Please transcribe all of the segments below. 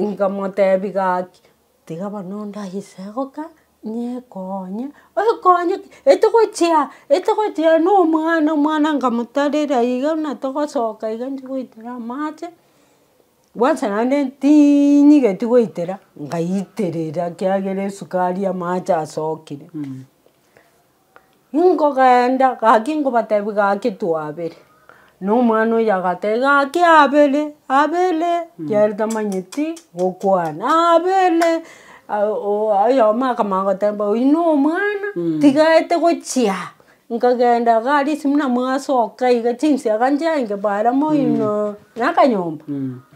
Nkamotebi gaki, tiga bono ndagise goka nyekonye, okonye ki? Etogochia etogochia na omwana, omwana nkamoterera iga buna togosoka iga nchi goitera amache, kwansa naende tinyigeti goitera, ngaiterera ekiagera esukari amache asokire. Nkogeenda gaki nkobatebia gaki twabere. Na omwana oyio agateba gaki abere abere kiagera tamanyeti gokwana abere oyomo akamanya goteba oyio no omwana tigaete gochia nkageenda iga aria esimo na mwasooka iga chinsaga nchiaye nkebaara moino na akanyomba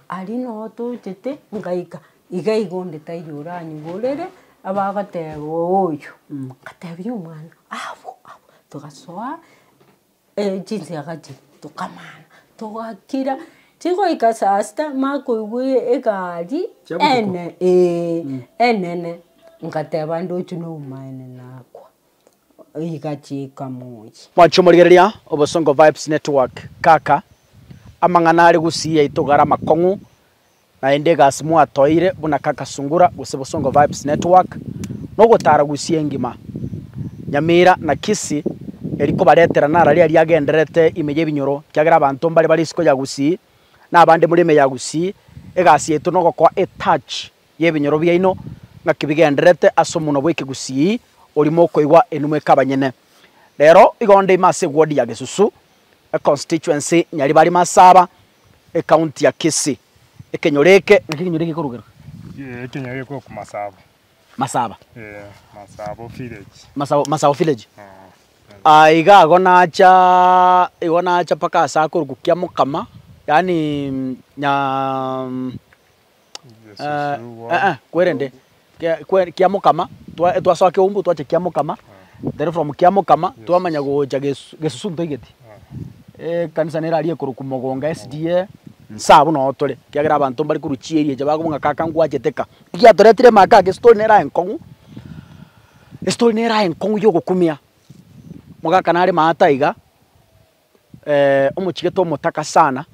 aria no tochete ngaika. Igaiga onde taiyo oranyigorere abagoteba oyo, ngatebia omwana abwo abwo, togasoa chinsaga chiria tokamana togakira, chigoika saa sita mama koigwa egari enene ee enene, ngateba ndoche nobomaene nakwa, igachiika moyia. Mwancha omorigereria obosongo vibes network kaka amang'ana are gusii yaito gare amakong'u. Naende egasi mwatoeire buna Kaka Sungura gose Bosongo Vibes Network nogotara Gusii engima, Nyamira na Kisii eri kobaretera nararia aria agendererete ime y'ebinyoro kiagera abanto mbare bare isiko ya Gusii na abande muri ime ya Gusii. Egasi yaito nogokoa a touch y'ebinyoro biaino ng'aki bigendererete ase omonwa bw'ekegusii oria mokoigwa enuma ekabanyene. Rero igonde ime ase eward ya Gesusu, econstituency Nyaribari Masaba, Ekaunti ya Kisii. Ekenyoro eke naki ekenyoro eke gikorugerwa. Eeh ekenyoro eke korokwa Masabo. Masaba. Eeh Masabo village. Masabo Masabo village. Aah iga ago nacha igo nacha mpaka ase akorokwa Kiamokama yaani nya. kwerende kia mokama, twasoa keumbu twacha kia mokama, then from kia mokama twamanya gocha gesusu ntoigeti, ekanisa nere aria ekorokwa mogonga SDA, nsaa buna oo tore, ekiagera abanto mbare korwa chieri echa bakobua ng'a kaka ngwachete ka. Ki giatoretire ime aa kaka estori nere aye nkong'u, estori nere aye nkong'u ya ogokumia, omogaka nare ime aa taiga. omochigete omotaka sana,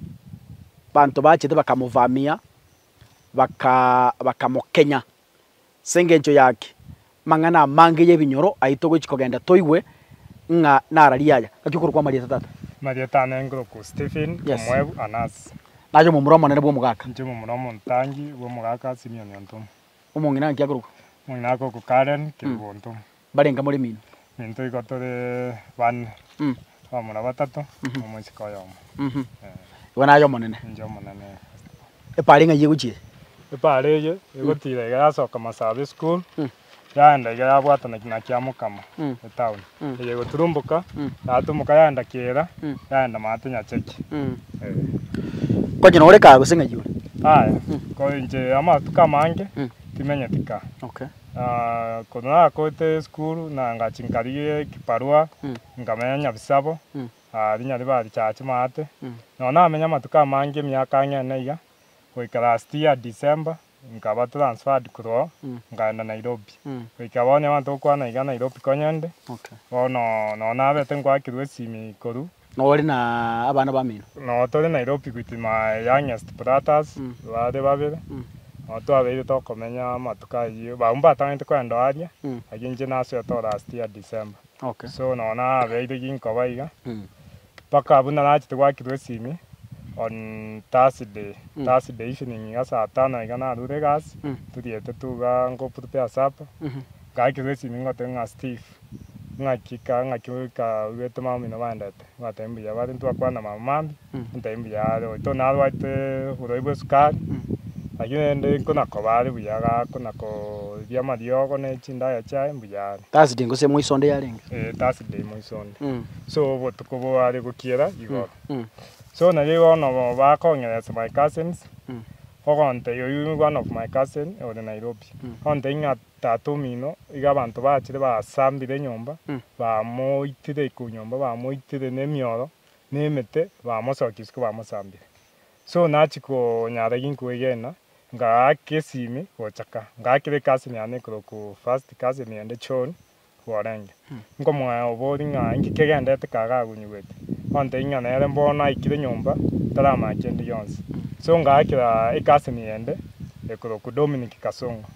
banto bachete bakamobamia, bakamokenya. As'engencho y'aki, amang'ana amange y'ebinyoro ayio togochi kogenda toigwe ng'a nara riaya. Naki okorokwa amarieta tata? Amarieta ane nkorokwa Stephen, omoebu, Anasi. Naye omomura omonene bw'omogaka? Inche omomura omotangi bw'omogaka Simioni Ontomo. Omong'ina naki akorokwa? Omong'ina akorokwa Karen, Kerubo Ontomo. Mbarenge more mino. Intwe igo tore bane, abamura batato, omosike oyomo. Ee. Igo naye Omonene. Inche Omonene Easter. Epaari ng'ai egochia? Epaari eye egotira iga yasoka Masabi School, yaenda iga yabwatana na Kiamokama etown, eye egoturumboka, yatumuka yaenda Kiira, yaenda Maate Nyacheki. Ee. Konye nore kaa gose ng'ai ore? Aye, ko inche amatuko amange timenyeti kaa. Okay. Korwa nagoete esukuru na ngachi nkarigia ekibarua, nkamenya nyabisabo, rinya ribe arichaha chimate. Nonye namenya amatuko amange emiaka ang'e ene iga, goika last year December, nkaba transferred korwa oo nkaenda Nairobi. Goika bono abanto gokwana iga Nairobi konyende, bono nonye nabete ngoakirwe esimi korwa. Nore na abana bamino. Nao tore Nairopi goitima youngest brothers bare babere nao twabeire tokomenya amatuko ayio bau mbatagete kwenda oo aria like inche nasoetoo last year December so nao nabeire ginkoba iga mpaka buna nachete gwakirwa esimi on Thursday Thursday evening iga saa tano iga narure egasi toriete tu igaa nko prepare supper ngakirwa esimi ngotebiwa ng'a Steve ng'aki ka ng'aki goika oirwete mama omino baendete, batebia mbuya bare ntibakwana mambo mambia, ntebia mbuya are oito narwate oborwaire bw'esukari, lakini rende nkonakoba are buya iga akona kooribia amariogo ne chindagera chiaye mbuya are. Thursday gose moiso onde yarenge. Eh Thursday moiso onde. So obotuko boare gokiera igoro. So nario bono igo bakong'eresa my cousins, ogontebia oyio one of my cousin ore Nairobi, ontebia ng'a. Tata omino, iga abanto bachire basambire enyomba, bamoitire iko nyomba, bamoitire nemioro, na emete, bamosokia isiko bamosambire. So nachia konyara ginkwegena, ngaaka esimi gocha ka, ngaakire ekasi niane ekoroku first cousin ende John, bworenge. Nkomoea obori ng'a inki kegendete kaga agunyigwete, ontebia ng'a nere bono aikire nyomba taramanya kende gionsi. So ngaakera ekasini yende ekorokwa Dominic Kasongo.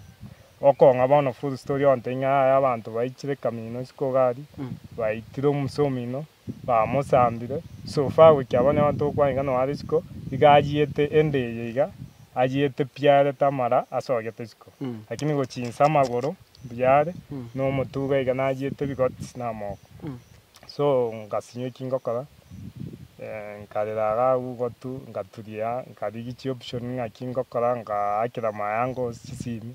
Okong'a bono full story ontebia ng'a yaya abanto baichire kamino isiko gari, baitire omusa omino, bamosambire, Sofa goika abonye abanto gokwana iga noa risiko, iga ayiete ende eye iga, ayiete piarete amara asogete isiko, lakini gochinsa amagoro mbuyaare, nomotuga iga nayiete ebigoti na amoko. So ngasinywa eki ngokora, nkarera iga agwo gotu, ngaturia, nkarigia chioption ng'aki ngokora, ngaakera amaye ango ase chisimi,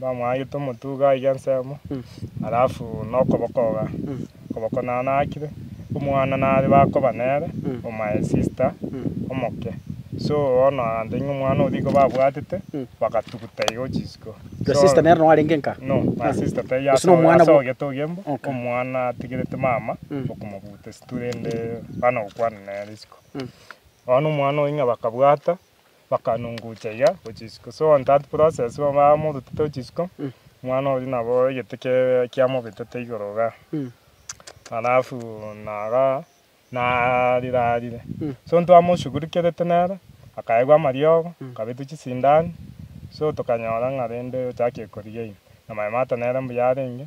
Bamwagete omotuga aiga ensemo, alafu nokoboko iga, okoboko nanakire, omwana nare bakoba nere o my sister omoke, so bono agantebia ng'a omwana oria igo babwatete, bagatuguta igo chisiko. Your So- sister nere no arenge nka? No, my sister taiyo Gose ase no omwana ase bwo- ogete ogiambo, Okay. omwana atigerete mama okomobuta esitwe rende bana gokwana nere isiko. Bono omwana oyio ng'a bakabwata. bakanunguchaiga gochisiko. So on that process bamorutete gochisiko, omwana oyio nabo egete kebe kiamobetete igoro igaa. Alafu naga narire arire. So ntwamoshugurikerete nere, akaegwa amariogo, akabetwa chisindani, so tokanyora ng'a rende ochakie korigeina. Na maemata nere mbuya arenge,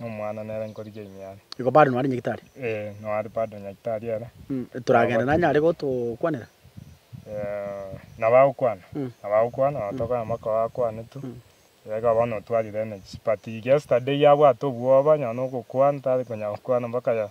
Nomwana nere nkorigia ime are. Igo bado noare nyagitari? Ee, noare bado nyagitari ere. Mm, toragende nanye are gotokwanera? Eh, naba agokwana? Mm. Naba agokwana, nabo tokonya mwaka oyo akwane tu. Iga bono otwarire energy. But yesterday yabwate obwoba, nonye nogokwana, tari konya gokwana mpaka ya-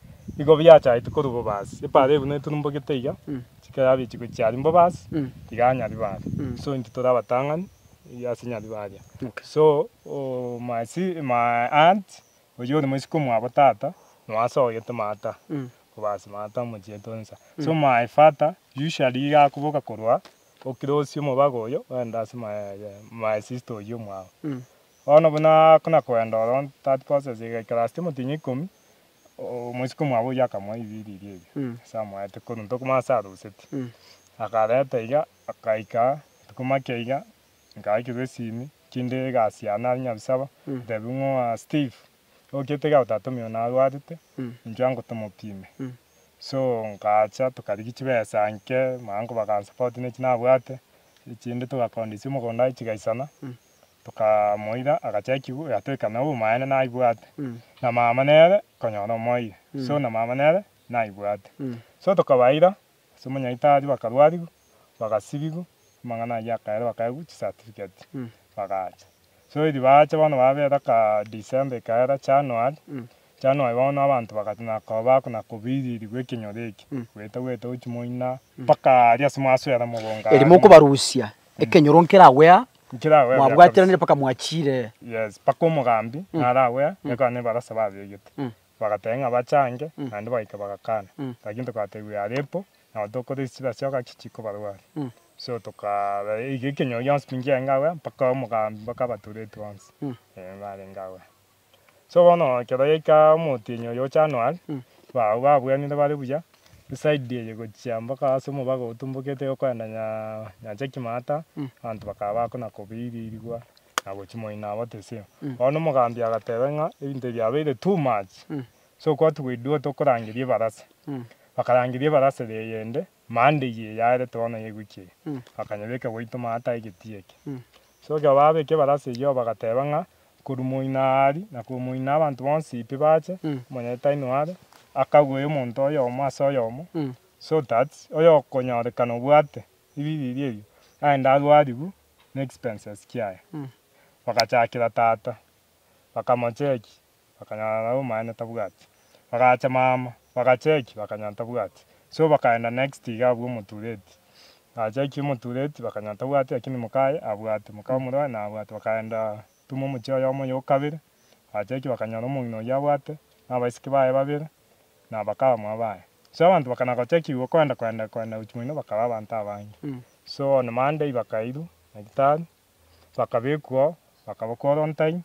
igo biachaete korwa bobasi, epaara buna eturumbogete iga, chika yabia chiko chiaria mbobasi, tiga anyari baria, so intwe tore abatang'ani ase nyari baria. So oo my si my aunt oyio ore moisiko mwabo tata, noasogete maata, bobasi maata omochiete onsa. So my father, usually iga akoboka korwa okirosie omobago oyo, oende ase my my sister oyio mwabo. Bono buna akona koenda oro third courses igaikara ase omotienyi ikomi, Omochiko mwabo oyio akamoa ebiriiria ebio ase amoete, korwa ntoku mono ase aroseti. Akareta iga, akaika rituko make iga, nkaakirwa esimi, kinde egasi yane aria Nyabisaba, ntebiwa ng'oa Steve, ogokira tiga otatome oyo narwarete, intwe ango tomopime. So nkacha tokarigia chibesa nke, maango bakansupport ne echio nabwate, echinde togakoondisia omogondo aye chigaisana. tokamoira agachakigwa gatweka na obomaene naibwate na mama nere konyora omoyio so na mama nere naibwate so tokabaira ase omonyaitari bakarwarigwa bagasibigwa amang'ana ayio akaere bakaegwa chisatifigeti bagacha so eri bacha bono babera kaa December ekaera January Chano aye bono abanto bagacha na koba na kobiririgwa ekenyoro eke, goeta goeta gochia moina, mpaka aria ase mwaswera mogonga Eri aria mokobarusia ekenyoro nkeragwe aa, nkeragoe buya mwabwatiranire kabisa. mpaka mwachire. Yes, mpaka omogambi naragwe aa, nekaba nebarasa babegete. Bagateba ng'a bachange, naende bagaika bagakana. Lakini tokatebiwa yarepo, nabo tokora esira ase ogachia chikobarwa are. So tokaa iga ekenyoro gionsi pi nkienge abwo aa, mpaka omogambi mpaka abatureti bonsi, eh, barenge abwo aa. So bono ekero yaika omotienyi oyo o January, bago babuanire bare buya, eside eye gochia mpaka ase omobago otumbokete okoenda nyaa nyancha ekimata, abanto bakaba bakona kobeirigwa na gochimoina abo teseo. Bono omogambi agateba ng'a ebinto ebi biabeire too much, so kwatugwa iduo tokorangeria ebarasa, bakarangeria ebarasa eye eyende, Mande eye yaarete bono yegukia eye, bakanyebeka goito maata aegeti eke. So ekero baabeka ebara ase eyio bagateeba ng'a, Korwa moino aari na korwa moino abanto bonsi pi baache, omonyene tainwe are, akague omonto oyomo ase oyomo, so that oyokonyorekana obwate ribiiri riria erio, aende arwariwu na expenses kiaye. Bagachakera tata, bakamochekia, bakanyora nabo omonyene tabwati. Bagacha mama, bagacheki, bakanyora tabwati. So bakaenda next iga abwo omotureti. Bagacheki omotureti, bakanyora tabwati, lakini mokaye abwate, moka omorwae naye abwate. Bakaenda tuma omochie oyomo oyo okabere, bagacheki bakanyora omong'ina oyio abwate, na abaiseke baye babere, na abakabamwa baye. So abanto bakana gocheki igwo koenda koenda koenda gochi moino bakaba abanto abange. So on Monday bakairwa nyagetari, bakabekwa oo, bakaba quarantine,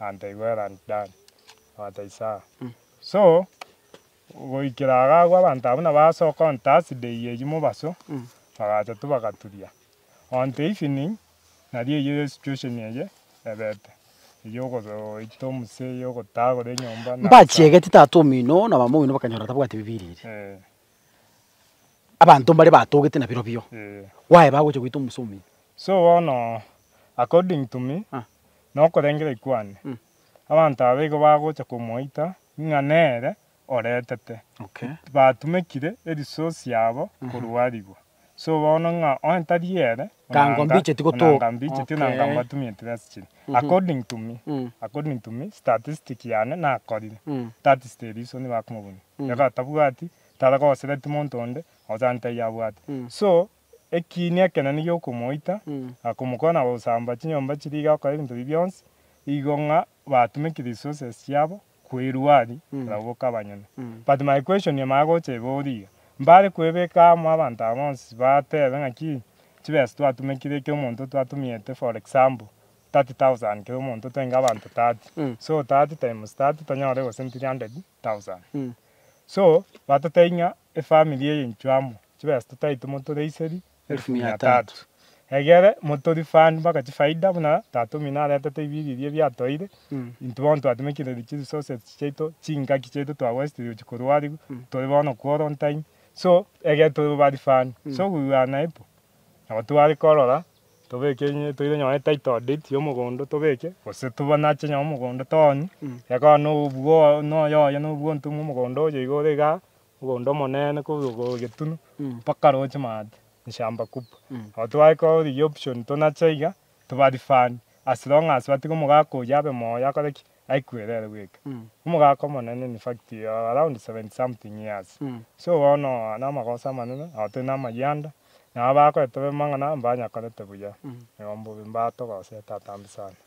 Anta igwere and Dan Anta Isaya so goikera iga agwo abanto abwo nabo ase okon Thursday eye enywo mobaso bagacha tu bagaturia on the evening nario eyio situation eye ebete eyio ogoita omuse eyio ogotagora enyomba na Mbachiegeti tata omino na mama omino bakanyora tabwati Bibilia eria. Abanto mbare batogete na birobio. Why bagocha goita omosa omuya? So bono according to me Ah. na okorengera kwane, Mm. abanto aba igo bagocha komoita ng'a nere oretete. Okay. Batumekire erisource yabo korwarigwa. So bono ng'a onye tari ere, Ka onanga, nkombicheti gotoka. onanga mbicheti, onanga Okay. mbatumeti besa chire. According to me, Mm. according to me, statistic yane nakorire. Mm. That is the reason nibakomobunia. Iga atabwati, tara gosereti monto onde, ochante eyio abwate. Mm. So, ekiinia ekenene giokomoita, Mm. na komokora na gosamba chinyomba chiria iga gokora ebinto ebi bionsi, igo ng'a batumeke resources chiabo, kwerua aria, barabwo boka abanyene. But my question nimanye gocha iga origa, mbare kwebeka amo abanto aba bonsi batebe ng'aki chibesa twatumekire ekero omonto twatumiete for example 30,000 kera omonto toenge abanto 30, so 30 times 30 tonyore gose 300,000. So batotebia ng'a efamiri eye inchwe amo chibesa totaeti motoreiserie elfu mia tatu. Egere motorifani mpaka chifaida buna tatomino aretete ibiriri ebiatoeire, intwe bono twatemekirie chiresources chiaito, chingaki chiaito twa waste ria gochia korwa arigu, tore bono quarantine, so egere tobe barifani, so we were unable nabo tware korora tobeke enye toire nonye ne title deed ya omogondo tobeke, gose tobanache nonye omogondo toonye, ekero noyo obwo oye noyo oye nobwo ontomwa omogondo oye iga ore igaa. Obo onde omonene kogetunu mpaka roche maate nshamba kubwa. Nabo togakora bono rigia option tonache iga toba refund as long as batiga omogaka oyio abe moyo akore ki? Aikwerere ere bweka. Omogaka omonene in fact around seventy something years. So bono namagoso amanene nabo tore namayianda nabo bagoeteba amang'ana abanyakorete buya. Igo mbobe mbatogosete atambe sana.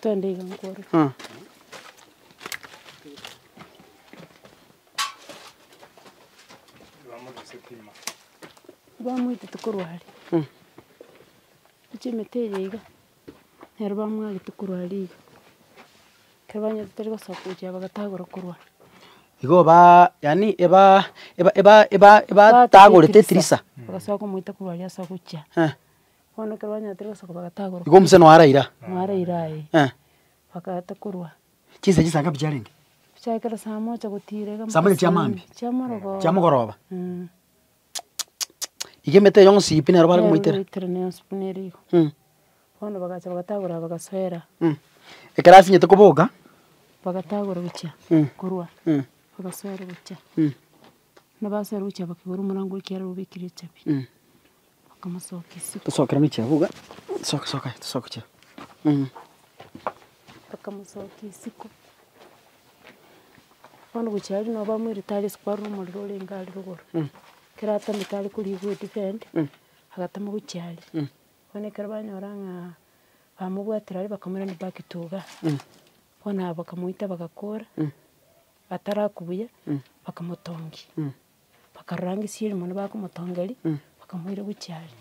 Togende iga nkore. Ah. Bamoite tokorwa aria. Mm. Gochia emete eye iga, nero bamwagete korwa aria iga. Ekero banyete tari gosoka gochia bagatagora korwa aria. Igo baa yaani ebaa eba- eba- eba- ebatagorete etirisa. Bagasoka komoita korwa aria ase ogochia. Eh. Bono ekero banyarete gosoka bagatagorwa. Igo omuseno oye araira? Oare aira aye. Eh. Bakaeta korwa. Chinsa chinsa ngapi chiarenge? Chia ekero saa mocha gotiira iga. Saa mocha chia maambia? Chia morogoro. Chia mogoroba? Eeh. Iga emete eyo ng'osiipi nero bare komoitera? Nero bagoitera ne asubu nere igo. Mh. Bono bagacha bagatagora bagasoera. Mh. Ekero asinyete koboka. Bagatagora gochia. Mh. Korwa. Mh. Bagasoera gochia. Mh. Buna basoera gochia bakigora omorango okiara obekirie echabi. Mh. Bakamosokia isiko, bono gochia aria nabo bamweire tari isiko are omorero orenge are rogoro. Ekero atamete are korigwa edifend, agatama gochia aria. Bono ekero banyora ng'a bamobwatire aria bakamorenda back to iga. Bono aba bakamoita bagakora, ataraku buya, bakamotongia. Bakarorangeria erimo na bakomotongeria, bakamoira gochia are.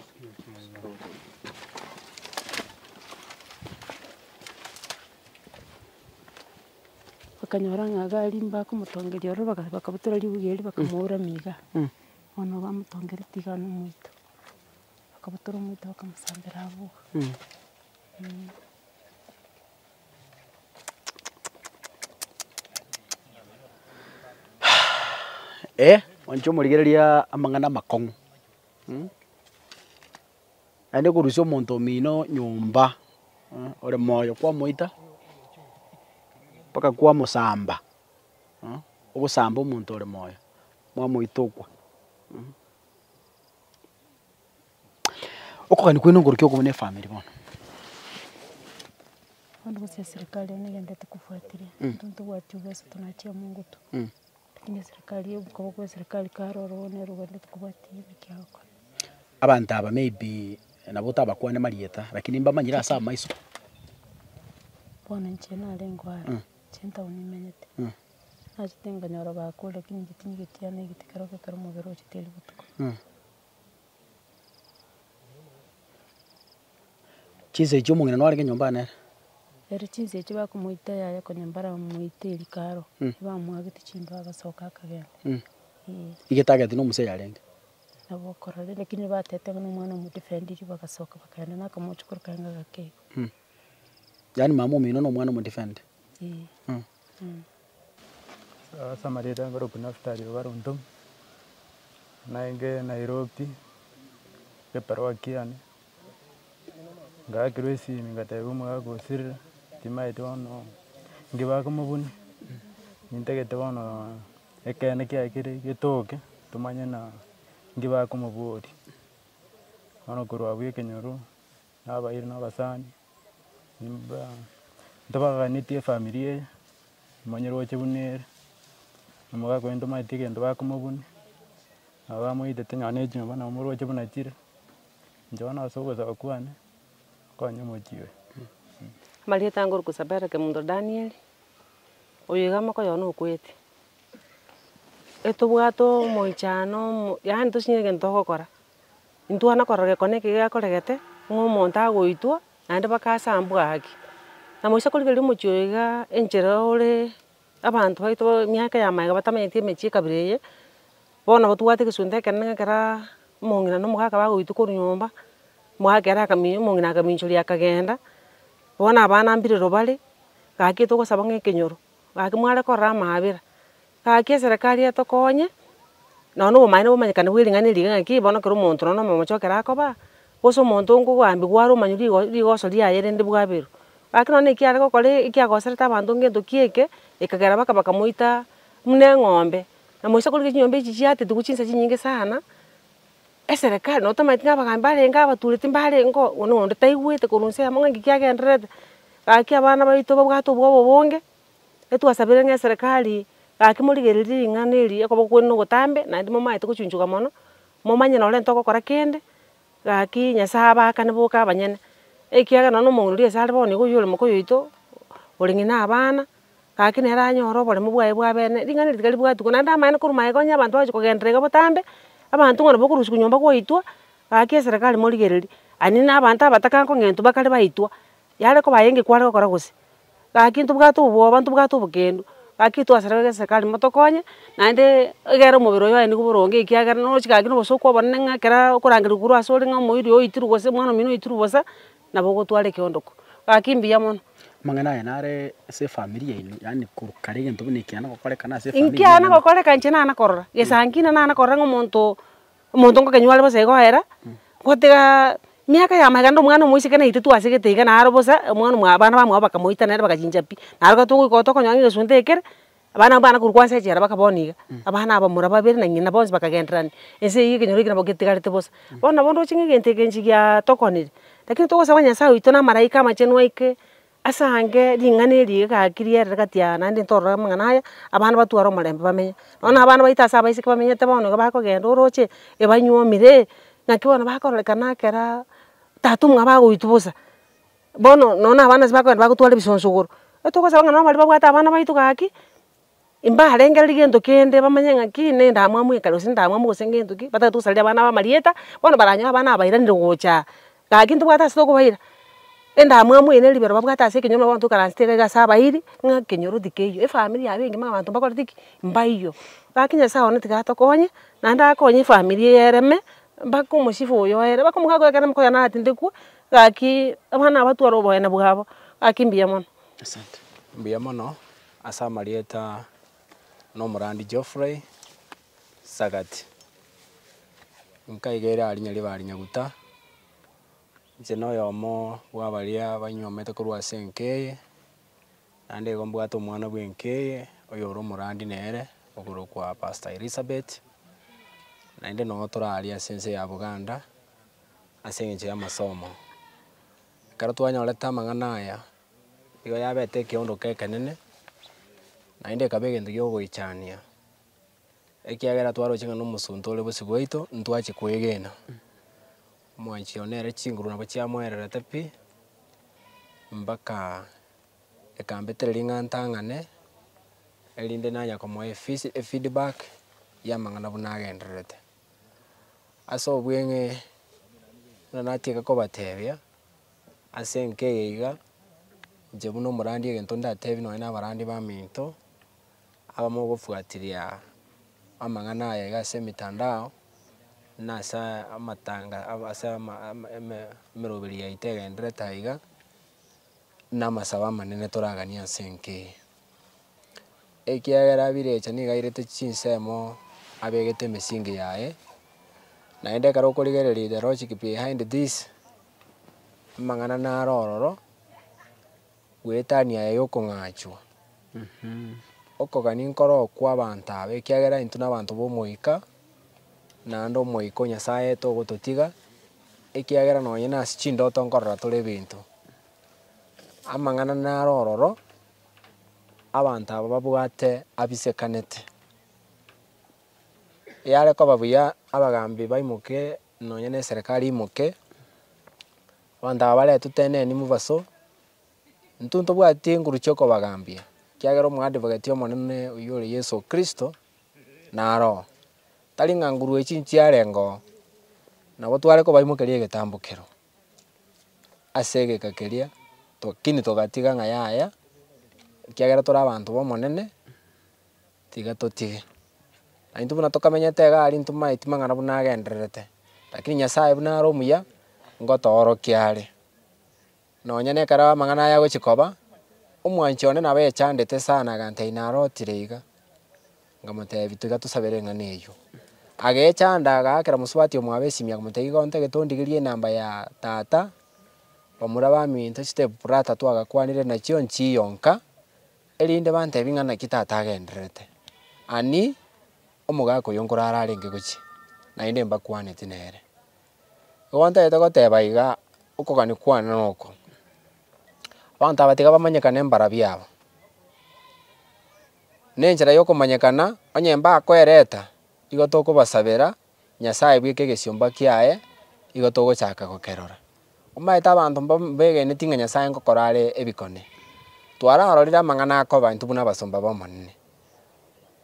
Bakanyora ng'a iga aria mbakomotongeria ororo baka- bakabutora ribuga erio bakamouramia igaa, bono bamotongereti igaa na omoito. Bakabutora omoito bakamosambera abwo igaa. Eh, inche omorigereria amang'ana amakong'u. Naende korusia omonto omino nyomba ore moyo kwamoita mpaka kwamosamba, ogosamba omonto ore moyo, mwamoita okwo. Okogania kwaino ngorukia okobuna efamiri bono. Bono gose eserikari eye negento tokofuatiria, intwe ntobwati ubesa tonachiaa mongo to, lakini eserikari eye oboka bokwa eserikari kare oro bono ero rogendo tokobwati naki agokora. Abanto aba maybe nabo otabakwane marieta, rakini mbamanyire ase amaiso. Bono inche narengo are, inche etaoni nimenyete, nachete nkanyora bakure, rakini inche tinyigotiana egete kero gekero omobere ochete eri botuko. Chinsa echio omong'ina narenge nyomba aa nere. Ere chinsa echio bakomoita yaya konya mbaramoite eeri karo, ebamwagete chindoo agasoka akagenda. Eeh. Iga etagete na omosa yarenge. Nabo okorora lakini batete ng'a na omwana omodefendiri bagasoka bakagenda na akamochokoro kaye ng'agakeiga. Yaani mama omino na omwana omodefendi. Eeh. Samaria ere ekorokwa Nafutali obaronto, naende Nairobi ekeroki yane, ngaakirwa esimi ngatebiwa omogaka o sirira timanyeti bono ninki bakomobuna, nintagete bono ekeene kiaye kere getoke tomanye buna ninki bakomoboria. Bono korwa abwo ekenyoro. na abairi na abasani, nimba ntobaganetie efamiri eye, nimanye roche buna ere, omogaka oye ntomaeti egento bakomobuni, nabo bamoitete nonya ne chumba nabo moroche buna chire, inche bono ase ogosaba kwane, nkonye omochie oyo. Amarieta ange orikosaba ere Kemunto Daniel, oyo iga amaboko yona okwete, etobwate omochano omo yaani tosinyire egento togokora, intwana korora gekone eke gekoregete, ng'a omonto agoitwa, naende bakasambwa haki. Na moisa korigereria omochie oyo iga enchera ore abanto baito emiaka ya maega batamenyeti emechie ekabira eye, bono batwate egesunte ekenene ng'a kera omong'ina na omogaka bagoitwa korwa nyomba, omogaka ere akami- omong'ina akaminchoria akagenda, bono abana mbire ribare, gaki togosaba ng'a ekenyoro, gaki mware korora amaabera, Gaki eserekari yaye tokonye, nonya na obomanene bomanyekane bwe ring'ana eri ng'aki bono ekero omonto nonya na omomocha okere akoba, gose omonto onge ogoambigwa ore omonywe rigo- rigoso riaye rende bwaberwa. Gaki nonya na ekio are gokora ekiagoserete abanto onge gentokio eke, ekagera baka bakamoita buna eng'ombe. Na moise akorwa chinyomba echi chiatete korwa chinsa chinyinge sana, eserekari nonya tomaeti ng'a abagambi barenge abatureti mbarenge ngoo oyo na onde taigwete korwa ensemo ng'a nki kiagendererete. Gaki abana baito babwate obwoba obonge, Etwasabire ng'a eserekari gaki morigererie ring'ana eri ekoba okwene na ogotambe naende momaete gochunchuka mono, momanye nonye renta ogokora kende, gaki Nyasae abaakane boka abanyene. Ekiagera nonya na omong'ina oria ase are bono nigo oyio ore moka oyoito, ore ng'ina abana, gaki nere anyore oboremu bwaye bwa abene. Ring'ana eri tiga ribwatigwa naende amaene korwa magega onye abanto bagochia kogenderera iga botambe, abanto ng'a nabo okorusia nyomba gwaitwa, gaki eserekari morigererie. Aye naende abanto abatakare kong'entwa bakare baitwa, yare koba aye engekware gokora gose. Gaki ntobwate obwoba ntobwate obokendu, gaki twasarerwe geserikali motokonye, naende egere omobere oyo aye nigo boronge ekiagera noroche gaki nobosokwa obonene ng'a ekero okorangererwa korwa asore ng'a omoiri oyo oitirwe gose omwana omino oitirwe bosa, nabo ogotwara ekeondoko. Gaki mbuya mono. Amang'ana aya nare ase efamiri yaino, yaani korwa kare egento buna ekiana gokorekana ase efamiri yaino. Ekiana gokoreka inche nana korora, gesankina nana korora ng'a omonto Omonto ngokenywa are bosa igo oera, gotiga miaka yama iga rende omwana omoiseke naintwe twasegete iga naro bosa, omwana omwa abana bamwabo bakamoita nere bagachincha pi. Naro ekero togoika igo tokonyora ng'a egesunte ekere, abana abwo bagakora korwa ase echela mpaka bono iga. Abana abamura babere na ng'ina bonsi bakagendererania, ense eyio ekenyoro ekio nabo getigarete bosa. Bono nabo ndoche ng'a egento eke inche giatokonire, lakini togosaba Nyasaye oito na amaraika amachenu aike. Ase ange ring'ana eri egaki riere gati yane naende ntorore amang'ana aya, abana batware omorembe bamenye. Nonya abana baito ase abaiseke bamenyete bono iga bakogenda oroche ebanyuomire, naki bono bakororekana ekera tata omwabo agoitwa bosa. Bono nonya abana ase bakogenda bagotwara ebisonsogoro, nabo togosaba ng'a nabo baria babwate abana baito gaki. Imbarengererie gento kende bamanye ng'a ki nendamwamu ekero gose ndamwamu gose gento ki, batagete gosarera abana aba amarieta, bono baranyore abana aba bairanire gocha, gaki ntobwate ase tokobaira. Endamwamu eye ne ribero babwate ase ekenyoro nabo abanto tokaransete egaiga ase abairi, ng'a ekenyoro tikeiyo, efamiri yabo engima abanto mbakorete ki? Mbaiyo. Gaki Nyasae one tiga atokonye, naende akonye efamiri eye ereme, mpaka omosibwa oyo oere, mpaka omogaka oyo ekero amoka oyio naratinde kwo, gaki abana aba tware oboyena bwabo, gaki mbuya mono. Asante. Mbuya mono, Ase amarieta nomorandi Geoffrey Sagat, nkaiga ere arinya riba Arinyaguta, inche noyomo bwabaria banyuomete korwa ase enka eye, naende igo mbwate omwana bwenka eye oyore omorandi nere okorokwa Pastor Elizabeth, naende noo tore aria ase ense ya Buganda ase eng'encho y'amasomo. Ekero twanyorete amang'ana aya. igo yabete ekeondoke ekenene, naende ekaba egento kia ogoichania, ekiagera twaroche ng'a na omosunte ore bosio bwaito, ntwachi koegena. Omwanchi oye nere chinguru nabo chiamoererete pi, mpaka ekambetera ring'ana ntang'ane, erinde nanya komoa efees efeedback, ya amang'ana buna agendererete. Ase obweng'ee buna natiga kobatebia, ase enka eye iga, inche buna omorandi egento ndatebie nonye na abarandi baminto, abamo ogofuatiria amang'ana aya iga ase emetandao, buna ase amatanga ase ama emeroberi yaito egenderete aiga, buna amasabo amanene toraganie ase enka eye. ekiagera birecha nigo airete chinsemo abegete emisingi yaye, naende ekero okorigereria the logic behind this, amang'ana naro ororo, bwetania yaye yokong'achwa okogania nkoro okwo abanto aba ekiagera intwe na abanto ba omoika, naende omoika o nyasaye togototiga, ekiagera nonye nase chindoto nkorora tore ebinto, amang'ana naro ororo. abanto aba babwate abisekanete. Eyare koba buya abagambi baimoke nonya ne eserekari imoke, abanto aba baretwe teneni mobaso, intwe ntobwati enguru chia okobagambia, ekiagera omoadvocate omonene oywo ore Yeso Kristo naro oo. Tari ng'a nguru echi nchiarenge oo, nabo tware kobaimokeria egetambo keroo. ase egeka keria, tokini togatiga ng'a yaya, ekiagera tore abanto b'Omonene, tiga totige. Naintwe buna tokamenyete igaa aria intwe maeti mang'ana buna agendererete, rakini Nyasaye buna are omuya, ngotoorokia are. Nonya na ekero amang'ana aya agochia koba, omwanchi one nabo yechandete sana egantee inarotire iga. Nkamoteebia, Tiga tosabere eng'ana eyio. Agecha ande agaakera mosubati omwabo esimia, akamotebia, Iga ontagete ondigerie enamba ya tata bamura baminto chitebu prata twagakwanire nachio nchiyo nka, erinde bantebie ng'a naki tata agendererete. Ani omogaka oyio nkoro ararenge gochia, naende mbakwaneti nere. Igo ntagete goteba iga, okogania kwane noko, abanto aba tiga bamanyekane mbara biabo. Nenchera y'okomanyekana onye mbakwereta, igo tokobasabera Nyasae bweka egesiomba kiaye, igo togochaka gokerora. Omanyete abanto mbegeneti ng'a Nyasae ngokora are ebikone. Twararorire amang'ana akoba intwe buna abasomba b'Omonene.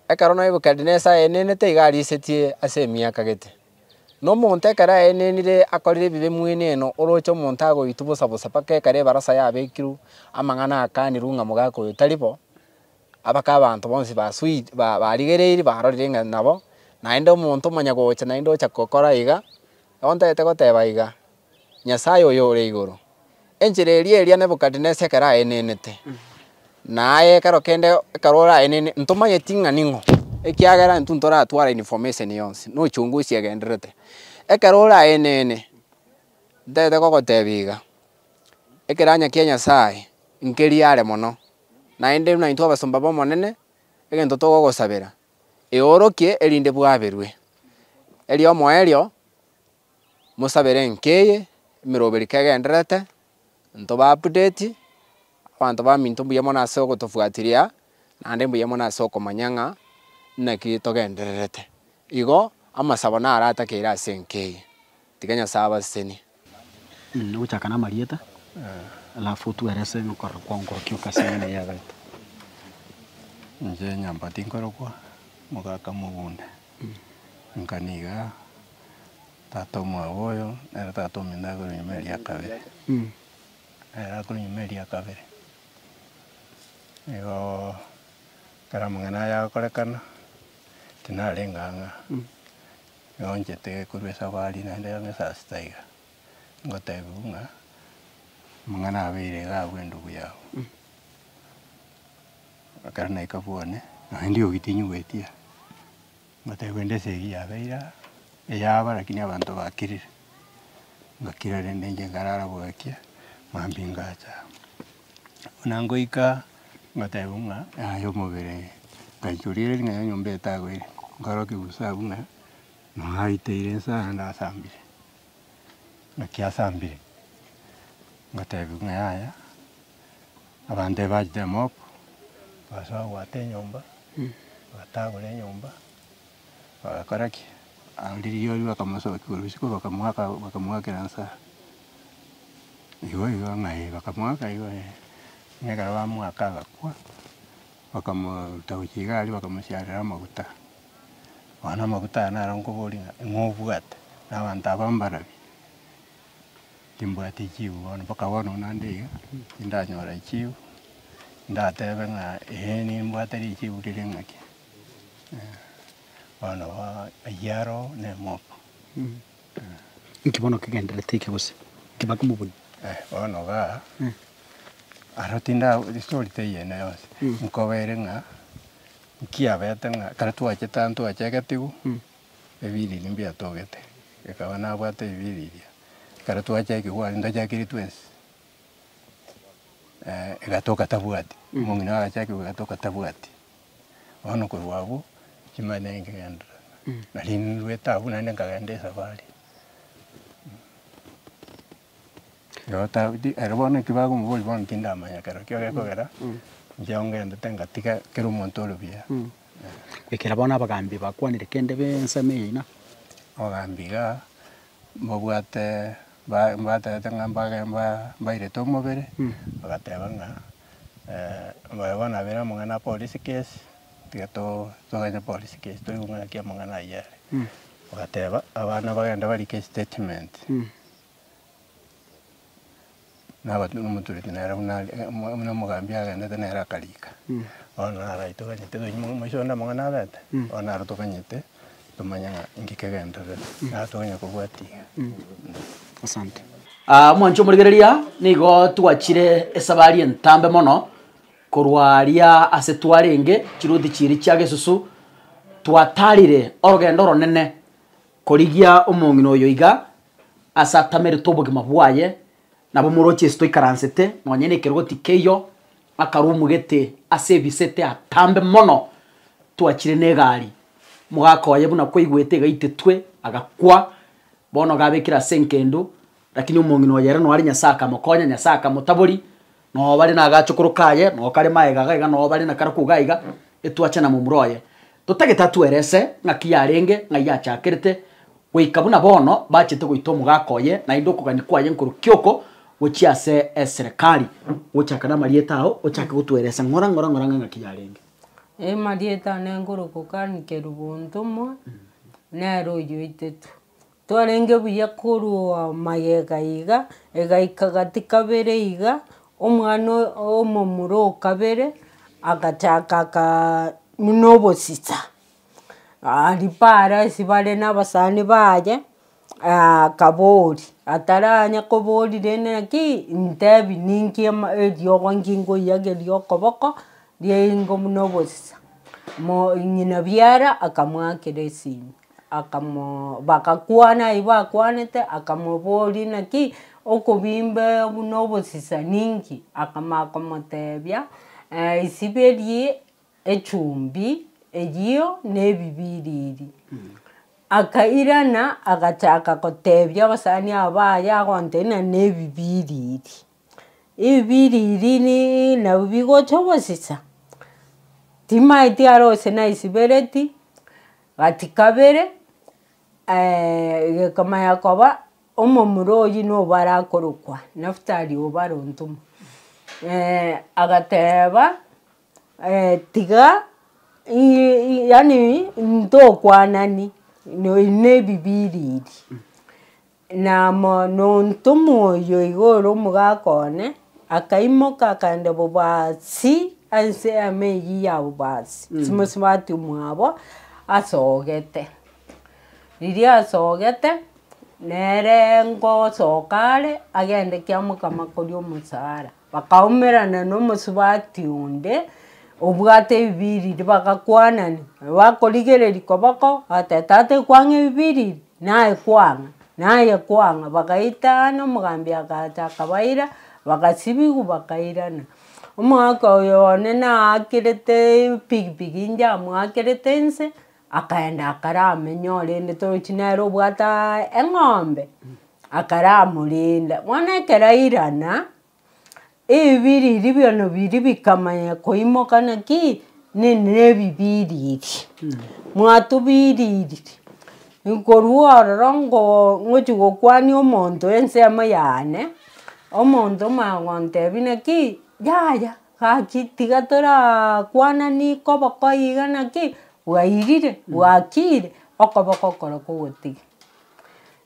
Ekero Nebukadinesar aenenete iga arisetie ase emiaka gete. Na omonto ekero aenenire akorire ebibe mweneno oroche omonto agoitwa bosa bosa mpaka ekero ebarasa yabekirwe amang'ana akanirwe ng'a mogaaka oyo tari bo, Abake abanto bonsi basuite, barigereiri barorire ng'a nabo, naende omonto omanya gocha naende ocha gokora iga, ontagete goteba iga, Nyasae oyo ore igoro, enchera eria eria Nebukadinesesa ekero aenenete, na aye ekero kende ekero oraenene, ntomanyeti ng'a ning'o, ekiagera intwe ntoratware information yonsi, na ochunguzi egendererete. Ekero oraenene, ntagete gogotebia iga, ekerannya kia Nyasae nkeria are mono. Naende buna intwe abasomba b'Omonene, egento togogosabera, eorokie, erinde bwaberwe. Erio omoerio mosabere enka eye, emeroberi kegendererete, abanto ba update, abanto baminto mbuya mono ase ogotofuatiria, naende mbuya mono ase okomanya ng'a naki togendererete. Igo amasabo naratakeire ase enka eye. Tiga Nyasae abasesenie. Nogochaka namarieta, alafu otwerese nokorora kwaonkorokio goka ase eng'encho y'ebiagato. Inche nyomba tinkorokwa mogaka mogunda, nka niga tata omwabo oyo nere tata omino akorwa nyuma eria kabere. Ere akorwa nyuma eria kabere, nigoo ekero amang'ana aya agokorekana, tinarenge ang'aa. Nyeonchete korwa esabari naende yamo esasi taiga, ngotebiwu ng'a amang'ana abeire iga abwo endubu yabo. Ekero naika bwane, nonye ndiogi tinyigwetie, ngotebiwa ende ase eyio yabeire aa, eyaba lakini abanto bakirire, ngakira rende inche nkarara bwaki, mambia ingacha. Buna ngoika ngotebiwa ng'a yaya omobere, ngachia orire ring'ana nyomba etagwere, nkarora kegusa abwo ng'a nonya aiteire inse aya ndasambire. Naki asambire, ngotebiwa ng'a yaya abanto aba bachete mob, basoa goaka enyomba, batagure enyomba. Ogakora ki? Aria rirorio bakamosokia korwa risiku bakamoaka bakamoakera nsa. Igo igo ng'a eh bakamoaka igo eh. Buna ekero bamoaka agakwa, bakamoruta gochia iga aria bakamosiarera amaguta. Bono amaguta aya naro nkoboria ng'a ing'o obwate? Na abanto aba mbarabi? Timbwati echibu bono mpaka bono buna nde iga, tindanyora echibu, ndatebe ng'a eh nimbwate richibu rire ng'ake. Bono ayio aro nemoka. Inki bono kegenderete eke gose? Inki bake mobunyi? Bono iga aro tinda estory teiyo ene yonsi. Nkobere ng'a nkiabete ng'a kare twachete aa ntwache egetigu ebiriri mbiatogete ekaba nabwate ebiriria. Kare twache ekigwari ntachakiri twensi egatoka tabwati. Omong'ina agacha ekegwari egatoka tabwati. Bono korwa abwo chimanya ninkegenderera. Nari nirwe etabu naende nkagenda esafari. Nabo tabu ti- ere bono ekio bakomoboria bono tindamanya ekero ekio gekogera, inche ngendete ngatiga kera omonto ore buya. Ekero bono abagambi bakwanire kende b'ensemo yaino. Obogambi igaa, mbabwate ba- mbaterete ng'a mbage mba- mbairete omobere, bagateba ng'a Moyo bono abere amang'ana apolice case, tiga to toganye police case, toigwe ng'a naki amang'ana ayio are. Ogateba abana bagende barike estatement. Naba na omotureti nere buna are eh omwa buna omogambi agendete nere akarika. Bono naro aye toganyete tonyimwa ng'a moiso onde amang'ana abete, bono naro toganyete. Tomanya ng'a inki kegenderere, naende tonya kobwati iga. Asante. Aa mwanche omorigereria, nigo twachire esabari entambe mono korwa aria ase twarenge chiruti chiiri chia Gesusu, twatarire orogendo oronene korigia omong'ina oyo iga ase atamerete obogima bwaye, nabo moroche ase toikaransete nonye nekerogo tikeiyo, Akarwa omogete ase ebisete atambe mono, Twachire n'egaari. Mogaka oye buna kwaigwete egaitetwe, agakwa. Bono gabekire ase enkendo, rakini omong'ina oye ere noare Nyasae akamokonya, Nyasae akamotabori. Noo bare na agachokoro kaye, noo kare maega iga iga, noo bare na karaku iga iga, etwache na momura oye. Totagete atwerese ng'aki yarenge, ng'ai yachakerete, goika buna bono bachete goita omogaka oye, naende okogania kwaye nkorwa kioko gochia ase eserekari. Gochaka namarieta ao, ochake gotweresa ng'ora ng'ora ng'ora ng'aki yarenge. Amarieta ane nkorwa Kokani Kerubo Ntomwa, nere oyoitetwe. Twarenge buya korwa magega iga, egaika gati kabere iga, omwana omomura o kabere agachaka buna obosisa. Aria paaro ase bare na abasani baye akaboria, ataranya koborire ng'a ki, ntebi ninki eriogo nkingoiyageria okoboko riaye ingo buna obosisa. Ng'ina biara akamwakera esimi. Akamoo bagakwana ayio bakwanete, akamoboria naki okobimba buna obosisani nki? Akamanya komotebia isiberi echumbi eyio na ebibiri eri. Akairana agachaka gotebia abasani aba baye agontebia nane ebibiri eri. Ebiririni nabio bigocha gosisa, timaeti are gose naisibereti, gati kabere gekomanya koba omomura oyio nobo arakorokwa Naftali obare ontuma. Agateba tiga yaani intokwanani nonya na ebibiriri. Naamo noonto moyio igoro omogaka one akaimoka akaenda bobasi anse y'eama eyio ya bobasi, chimosubati omwabo asogete. Riria asogete, nere ngosoka are agende kiamokama koria omosara. Bakaumerana nomosubati onde obwate ebibiriri, bagakwanania. Bakorigereria koboko, bagateba, Tata ekwang'a ebibiriri? Naye kwang'a, naye kwang'a. Bagaitana, omogambi agacha akabaira, bagasibigwa bakairana. Omogaka oyo one naakirete epikipiki inche amoakerete inse. Akaenda akaramenya orende torochi nere obwate eng'ombe, akaramorenda. Bono ekero airana, ebibiri ebi bionsi biri bikamanya koimoka naki, nebibiriri. Mwatubiriri, nkorwa ororo ngoo ngochia gokwania omonto ensemo yane, omonto omanye gontebia naki, yaya. Gaki tiga torakwananie koboko iga naki, bwairire, bwakiire, okoboko okoro kogotiga.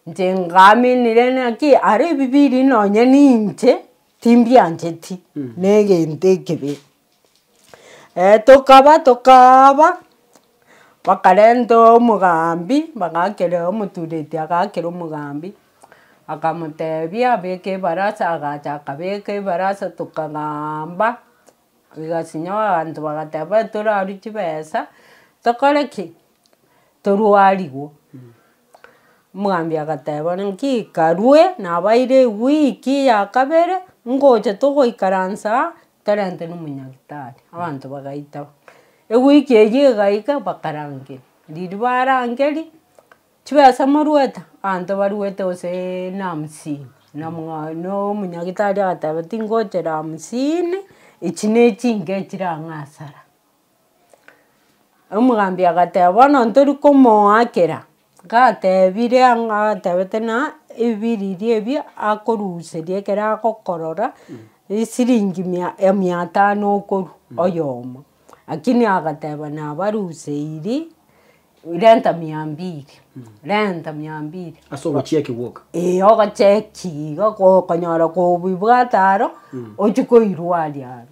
Inche ngaaminire naki ara ebibiri nonye ninche timbiancheti na egento ekebe. tokaba tokaaba. Bakarenta omogambi bagakera omotureti agakera omogambi, akamotebia abeke ebarasa agacha akabeka ebarasa tokagamba, igasinyo abanto bagateba torarwe chibesa tokore ki? Torwarigwe. Omogambi agateba naki karwe nabaire ewiki ya kabere ngocha togoikaransa aa Tarente nomonyagitari, abanto bagaita, ewiki eyio egaika bakarangeria, riria barangeria, chibesa moruete, abanto baruete goseee na hamsini, na mwa na omonyagitari agateba tingochera hamsini, echi ne chinke chire ang'e asara. Omogambi agateba bono ntori komoakera, gatebire ang'o agatebete na ebiriri ebi akoruseria ekero agokorora esiringi mia mia tano okoru oyomo. Lakini agateba nabaruseiri renta mia mbiri, renta mia mbiri. Ase ogochiaki gwoka. Eeh ogocheki iga okonyora kobibwate aro, ochi koirwa aria aro.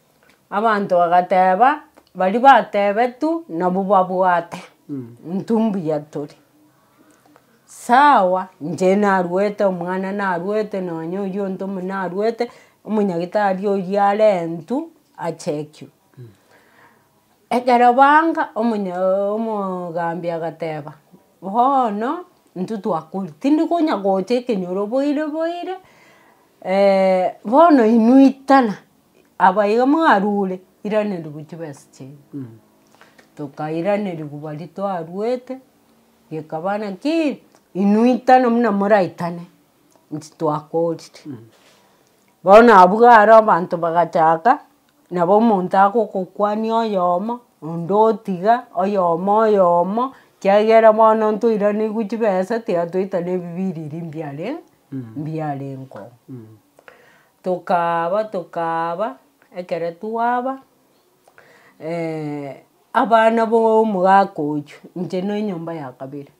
Abanto bagateeba, baria bateebetu nabwo babwate, intwe mbuya tore. Sawa, inche narwete, omwana narwete, nonya oyio onde omonene narwete, omonyagitari oyio arentwe achekigwe. Ekero baanga omonya omogambi agateeba, bono intwe twakorire, tindi konya gocha ekenyoro boire boire bono inwe itana. Aba iga mwarure iraneria gochia besa chiaino. Tokairanerigwa baria twaruete, gekaba naki inwe itano buna moraitane inche twakorire. Bono abwo are abanto bagachaka nabo omonto agogokwania oyomo, onde otiga, oyomo oyomo, kiagera bono ntoiraneiri gochia besa tiga toitane ebibiriri mbiare mbiarengo. Tokaaba tokaaba, ekero twaaba, abana bomogaka oyio, inche ne enyomba ya kabere,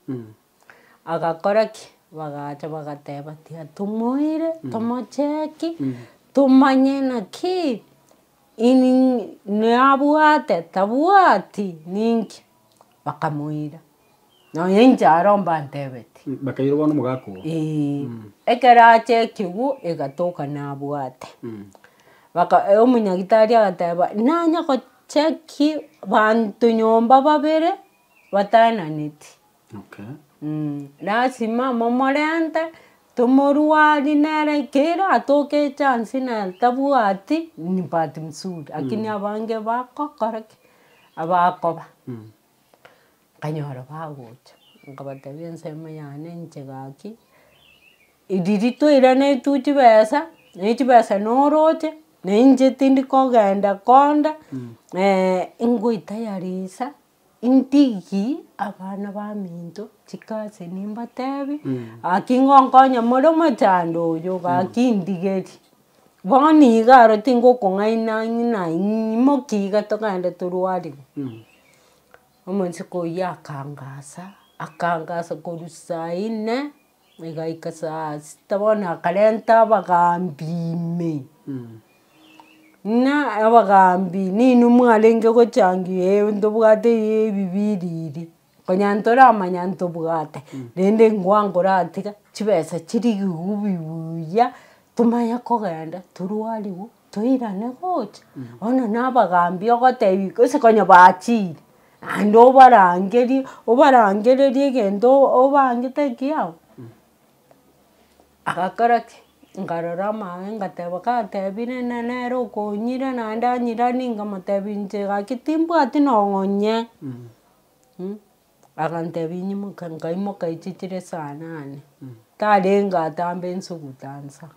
agakora ki? Bagacha bagateba tiatomoire, tomocheki, tomanye naki, nabwate, tabwati, ninki? Bakamoira, nonya inche aro mbantebetie. Mm, bakaira bono omogaka oo. Eeh, ekero ache ekegwo egatoka nabwate. Mm. Baka eh, omonyagitari agateba, nanye gocheki banto nyomba babere bataenaneti. Okay. Mm, lasima momorente. Tomorwari nere kera atoke echance nere tabwati ni bahati msuri lakini abange bagokora ki? Abakoba. Nkanyora bagocha nkabateebia ensemo yane inche gaki eriri toirane tu chibesa ne chibesa noroche ne inche tindi kogenda konde ngoita yarisa. Ntigi abana baminto chikasi nimbatebi gaki ngonkonye more omochando oyo gaki ndigeri. Bono iga aro tingokong'aina ng'ina imoke iga togende torwarigwe. Omosiko oyio akangasa akangasa korwa saa inne. Igaika saa sita bono akarenta abagaambi ime, buna abagaambi ninwe mwarenge gochangia eeh ntobwate ebibiri iri, konya ntoramanya ntobwate, rende ngwango oratiga chibesa chirigigwe buya, tomanye kogenda torwariwe. toirane gocha, bono na abagambi ogotebia gose konya baachire, naende obarangerie, obarangererie egento obangete ekiya abwo, agakora ki? Nkarora amaabera ngateba gatebire na nere okonyire naende anyiranie nkamotebia inche gaki timbwati nonye. Agantebia, Inyimuke. Nkaimoka echi chire saa nane, tarenge atambe nsuguta nsa.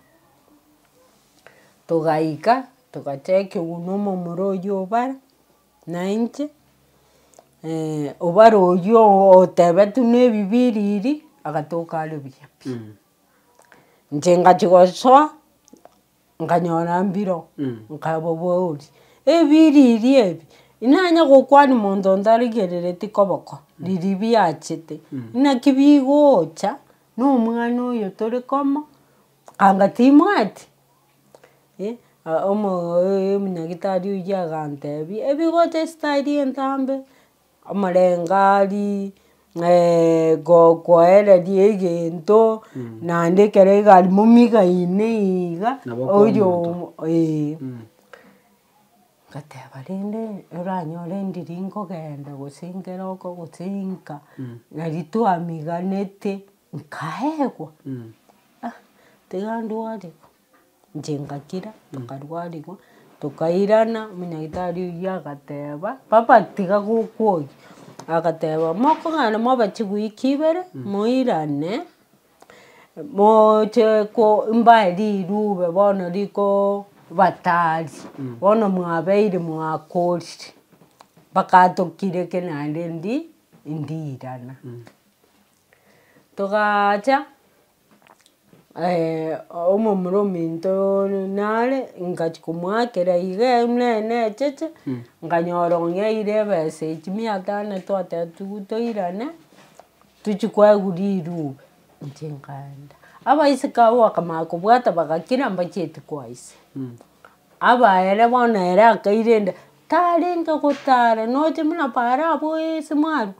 Togaika, togachaka egunia omomura oyio obare, nainche, obare oyio otebetwe na ebibiri eri, agatoka are buya pi. Inche ngachia gosoa. Nkanyora mbiro, nkaboboria, ebiriri ebi, inanye gokwania monto ntarigerereti koboko, riria biachete, inaki bigocha na omwana oyo tore komo? Anga timwati? Eh, omo omunyagitari oyio agantebia, ebigocha esitari entambe. Omorengari, gokoereria egento naende ekero egari momigaine iga oyo ee. Ngateba rende oranyore ndiri nkogenda gose nkere okogotenka nari twamiganete nkaegwa ah tiga ndware. Inche ngakira nkarwarigwa, tokairana, omonyagitari oyio agateba, papa tiga gokoria, agateba mokong'ana mobe chiwiki ibere, moirane, moche ko mbae rirube bono rikoba tari, bono mwabeire mwakorire, mpaka atokire eke naende ndi- ndiirana. Togacha. omomura ominto nare ngachia komoakera iga buna necheche nkanyora onye aire ebesa echio mia tano twateba toigwe toirane tochia kwagura erube inche nkaenda. Abaiseke abwo bakamanya kobwata bagakira mbacheti koise. Abaere bono ere akairenda tarenge gotara nocha buna paara abwo ase mwaru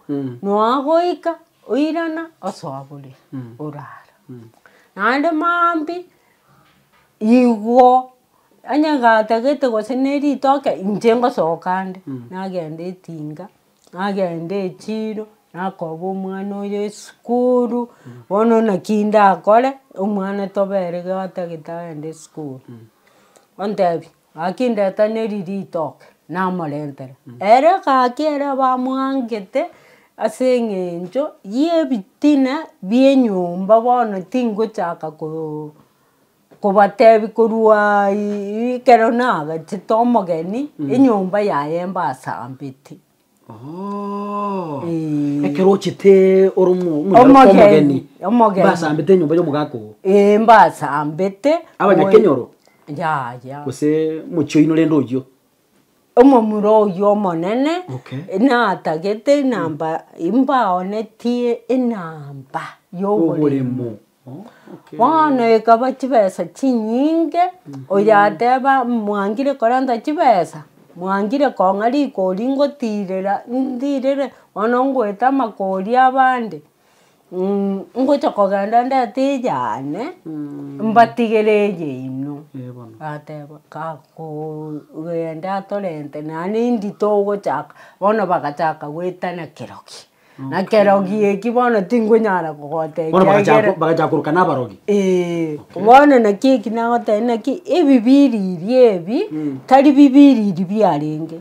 nonya goika. Oirana osabore orare. Naende maambia igwo onye ngatagete gose ne ritoke inche ngosoka ande nagenda etinga nagenda echiro nakoba omwana oyo esukuru bono naki ndakore omwana tobere gatagete agende esukuru. Ontebie Gaki ndete neri ritoke, namorentere. Ere gaki erio bamwangete ase eng'encho y'ebitina bi'enyomba bono tingochaka kobatebia korwa ekero nagachete omogeni enyomba yaye mbasambete. Oh. Eh. Ekero ochete ore omo- omonyaroka Omogeni, omogeni. omogeni. Mbasambete enyomba y'omogaka oo. Eh, mbasambete Abanyakenyoro? moi- yaya Gose mochie oyino rende oyio. omomura oyio omonene Okay. natagete enamba imbaonetie enamba Y'oboremo. Bono ekaba chibesa chinyinge, oria ateba mwangire korenta chibesa, mwangire kong'a rikori ngotirera ntirere bono ngoeta amakori abande, ngocha kogenda ndete eyane mbatigere eye inwe. Bateba kagogenda atorente naende indito ogochaka, bono bagachaka goetana kerokia. Na kerogi eki bono tingonyara kogotebia Bono bagacha ekiagera- ko- bagacha koroka nabarogi. Ee, bono naki eki nagotebia naki ebibiriri ebi tari bibiriri biarenge,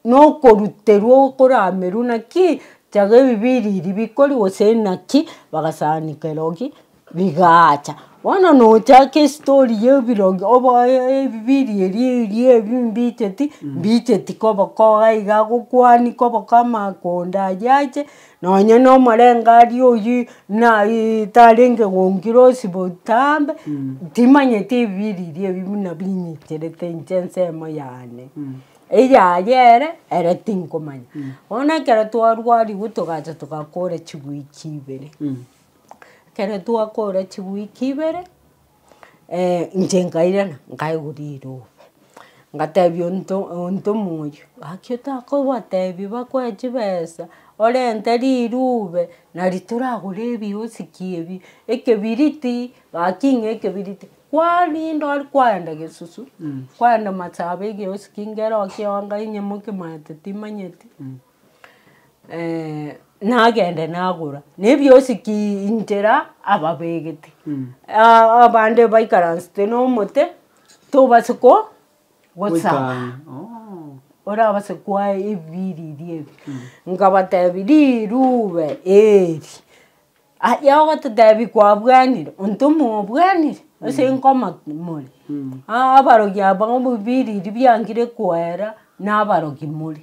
nokoruterwa okoramerwa naki, tiaga ebibiriri bikori gose naki bagasani kerogi. Rigaacha. Bono nochake estory ya ebirogi oboe ebibiiri eria eria ebi mbicheti, mbicheti koba koga iga agokwani koba ka amakonda ayio ache, nonye na omorengari oyio na tarenge gonkire osibe otambe, timanyeti ebibiiri eria ebi buna binyicherete inche ensemo yane. Eyaye ere, ere tinkomanya. Bono ekero twarwariwu togacha togakora chigwe chibere. Ekero twakora chiwiki ibere, inche nkairana nkaigwa rirobe, ngatebia onto onto omoyio, gaki otakobatebi bakoe chibesa, orente riruube nari toragore ebiosiki ebi, ekebiriti, gaki ng'a ekebiriti, kwarinda ore kwaenda gesusu, kwaenda masaaba egeosiki ngero okio onde onye moke manyete timanyeti. nagende nagora, na ebiosi ki inchera ababegete. Aa- abande baikaransete na omote, tobasa ko gosaba, orabase koae ebibiriri ebi. Nkabatebi, rirube eri, aye ogototebi kwabwanire, onto mobwanire? Ase nkoma more? Aa abarogi aba ebibiriri biangire koera, nabarogi more.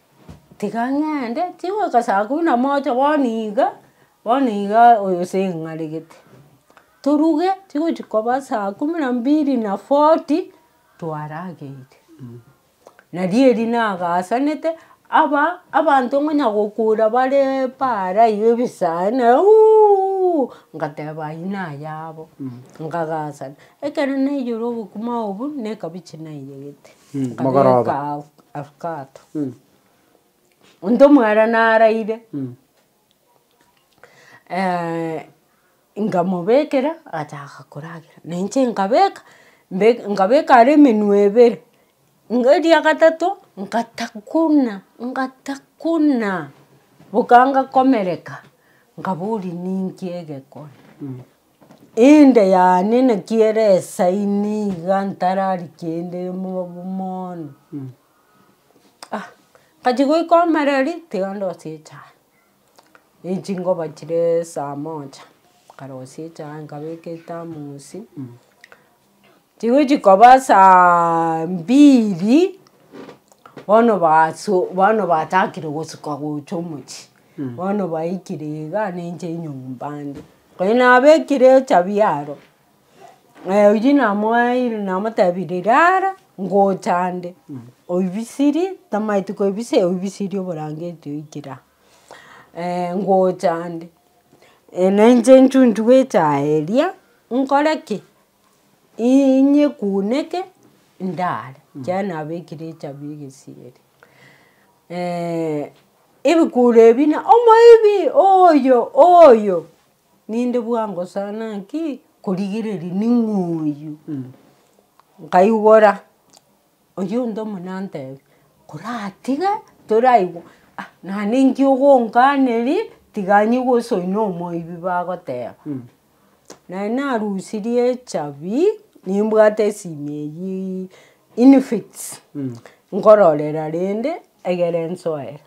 Tiga ng'ende, tigoika saa kumi na moja bono iga, bono iga oyo ase ng'aregete. Toruge tigochi koba saa kumi na mbili na forty twarageire. Na rieri nagasanete, aba abanto ngonya gokura bare bare aye ebisae na uuuuuuu ngateba ayio naya abo, ngagasana. Ekero naiyora obokima obwo, nekabiche naiyegete. Akabeka agwo afkato. Onto omwara naraire nkamobekera agachaka koragera na inche nkabeka nkabeka ara emenwe ebere iga eria gatato nkatakuna nkatakuna boka ngakomereka nkaboria ninki egekone. Inde yaani naki ere esaini iga ntarari kende mobu mono. Ah nkachia goika omereri tiga ndosie echae. Echinkoba chire saa moja, nkarosia echae nkabeka ethermos. Chigochi koba saa mbiri, bono baso bono bachakire gosuka gocha omochie, bono baikire iga ninche nyomba ande. Konya nabekire echabi aro, naye oyio namoeire namotebire rara ngocha ande, oibisirie tamaeti koibisia oibisirie oborangeti oikere aa ngocha ande. Ene inche nchunchu bwechaye eria, nkore ki? Inyekuneke ndare, ekiagera nabekire echabi egesieri. ebikuro ebi na omoibi oyo oyo, ninde bwangosana ki? korigereria ning'oyu, nkaigora. Oyio onde omo nantebia, koratige toraigwe ah naende inki ogonkaneria tiga nigo osoe na omoibi bagoteba. Naye narusirie echabi nimbwate esimi eyio infinix nkororera rende egere nsoere.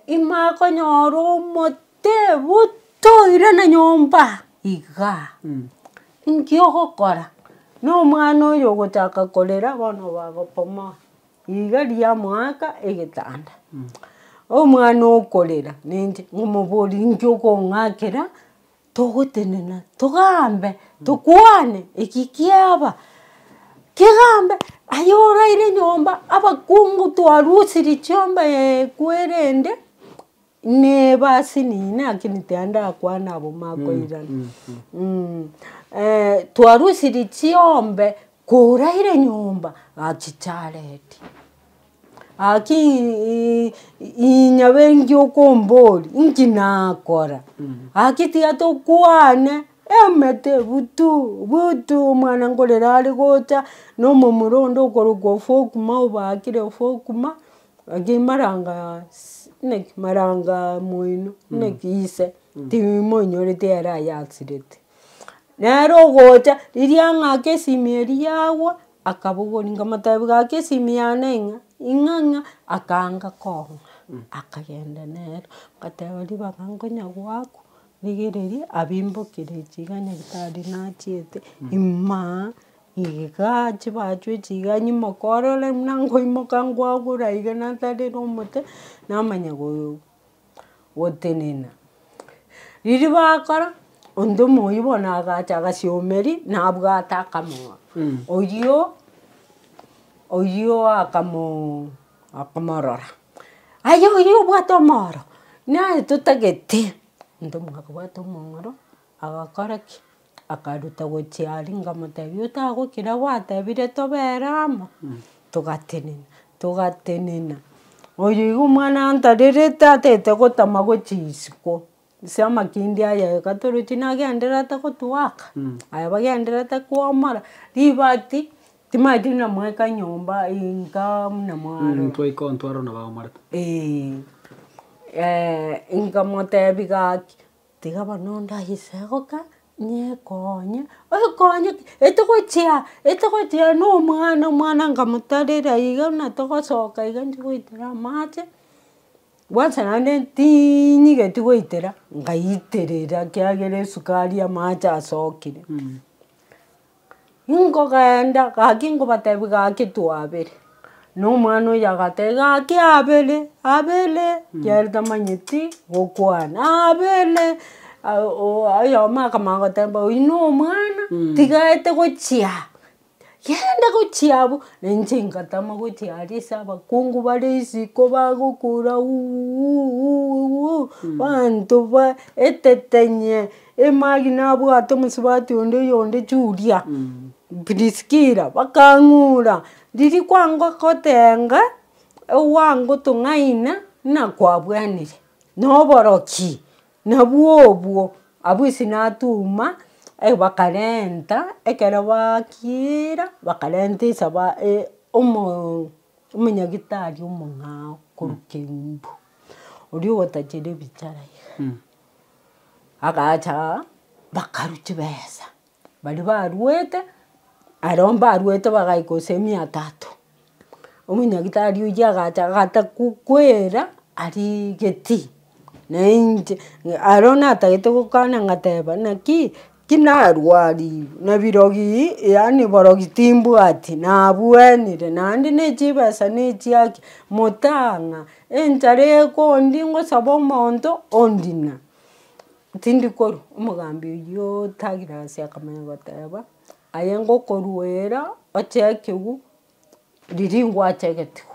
imwakonyorwa omotee botoire na nyomba igaa, nki ogokora? Na omwana oyo ogochaka korera bono obagopomoa iga riamoaka egetanda. Omwana okorera neinche, ng'omoborie nki okong'akera. Togotenena, togambe, tokwane, eki kiaba, kegambe, aye oraire nyomba, abakungu twarusirie chiomba eekwo erende, nebasi nini naki nitari ndakwana abwo makoirana. twarusirie chiombe, koraire nyomba, achicharetie. Gaki inya bengi okombori inki nakora? Gaki tiga tokwane emete butu butu omwana nkorera are gocha na omomura onde okorokwa ofokuma obakire ofokuma gaki maranga inaki maranga moino inaki ise timoinyorete ere ayasirete. Nero ogocha riria ng'ake esimi eria yagwa. Akabogoria nkamotebia gaki esimi yane ng'a ing'a ng'a akanga kong'a akagenda nere. Ngateba ribaga nkonya goakwa rigereria abimbokire chiga nyagetari nachiete ima iga chibachwe chiga nyimokore ore buna nkoimoka nkoagure iga natarera omote namanya. gotenena. Riria bakora, onde omoyio bono agacha agasiomeri nabwate akamong'a. Oyio oyio akamoo akamorora, aye oyio obwate omoro, naye totagete. Onde omonge akabwata omong'oro, agakora ki? Akaruta gochia aria nkamotebia otagokira gwatebire tobere amo, togatenena togatenena. Oyo igo omwana antarerete atete gotama gochia isiko ase amakindi aya iga toroche nagendererete gotwaka aye bagendererete kwomora ribati timanyeti buna mwaika nyomba inka buna mwarora. Twaika ntwarora buna baomorete. Eeh nkamotebia gaki. Tiga bono onde aise goka nyekonye, okonye ki? Etogochia etogochia no omwana, omwana nkamotarera iga buna togosoka iga ntigoitera amache, kwansa naende tinyigeti goitera, nkaiterera ekiagera esukari amache asokire. Nkogenda, gaki nkobatebia gaki twabere. Na omwana oyio agatebia, gaki abere, abere, kiagera tamanyeti gokwana, abere. Oyomo akamanya goteba, oyio na omwana, tiga aete gochia aa, yende gochia abwo. Na inche ngatama gochia aria ase abakungu bare isiko bagokora uuuuuuuuu, banto baetete nye. Emagi nabwate omosubati onde oyonde Julia, Priskila, bakang'ura, riria kwango gotenga ogwango tong'aina ng'a kwabwenire noboroki nabwo obwo. Abwo ase natuma bakarenta ekero bakiira bakarenta esaba omonyagitari omong'ao korwa Kembu, oria ogotachere ebichara iga. Agacha aa, bakarwa chibesa, baria barwete, aria mbarwete bagaika gose emia tatu. Omonyagetari oyio agacha agata kwera aria getii, nainche aria natagete gokana ngateba naki. Tinarwarigwe nebirogi, yaani borogi timbwati, nabwenire naende ne chibesa ne chiaki, motang'a, enchara ekondie ngosabe omonto ondina. Tindi korwa, omogambi oyio otagire ase akamanya goteba, aye ngokoruera oche ekegwu riria ingwacha egetugo.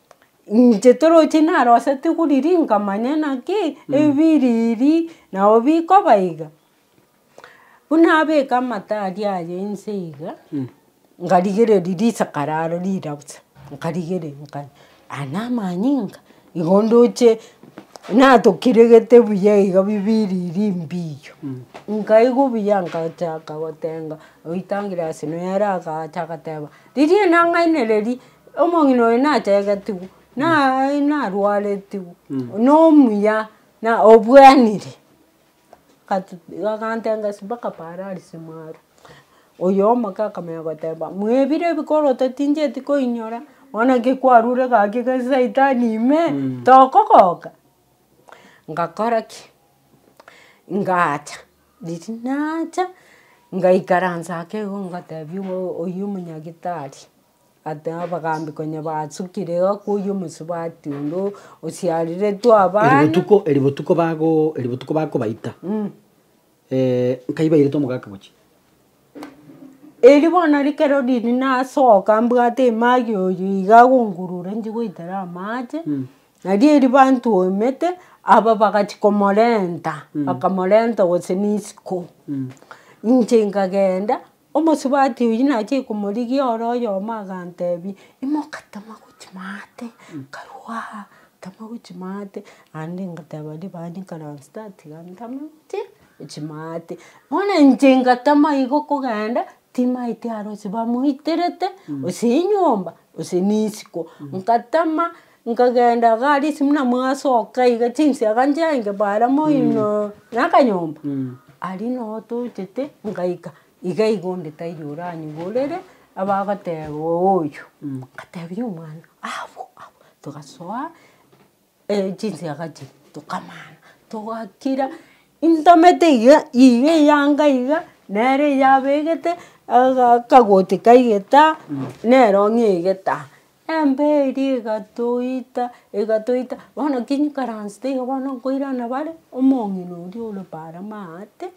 Inche toroche narosete koriri nkamanya naki ebiriri nabo bikoba iga. Buna abeka amata aria aye inse iga, nkarigereria risakara aro rirabusa, nkarigereria nkare aya namanyinga igo ndoche natokiregete buya iga bibiriri mbiyo. Nkaigwa buya nkachaka gotenga oitangire ase noyo aragacha agateba, riria enang'aini riria Omong'ina oyo nategetigwe, naye narwaretigwe, na omuya na obwanire. Gatu- gakantenga ase mpaka pararisi mwarwa. Oyo omoke akamanya goteba, mwebire ebikoro totincheti koinyora, bono ki kwarure gaki gose saitani ime, tokogoka. Ngakora ki? Ngaacha, riria naacha, ngaikaransa ake igo ngatebia oyo omonyagitari. Ata abagambi konya basukire iga koyia omosubati onde o- osiareretwe Eri abana. botuko, eri botuko bago, eri botuko bakobaita, Mm. eh, nkai bairete omogaka gochia. Eri bono rikero riria nasoka mbwate emagi oyo iga agongurure nchi goitera amache, nari eri bantuomete, aba bagachia komorenta, bakamorenta gose na isiko. Inche nkagenda. Omosubati oyio nachie komorigia ore oyomo agantebia, Imoka tama gochia maate, nkarua aa, tama gochia maate. Naende ngateba ribani nkaransa tatiga ntame gochia gochia maate. Bono inche ngatama igo kogenda, timaeti arose bamoiterete, gose nyomba, gose nisiko. Ngatama. Nkagenda iga aria ase buna mwasoka iga chinsiaga nchenge bare moino na akanyomba. Aria noo tochete nkaika iga iga onde taiyo oranyeborere abagoteba oyo. Nkatebiwa omwana abwo abwo togasoa chinsiaga chiria tokamana togakira intamete iga iga eyanga iga nere eyabegete akagoti kaigeta nero ng'egeta. Embe eria egatoita, egatoita, bono kinyikaransete igo bono nkoirana bare, omong'ina oria ore bare maate,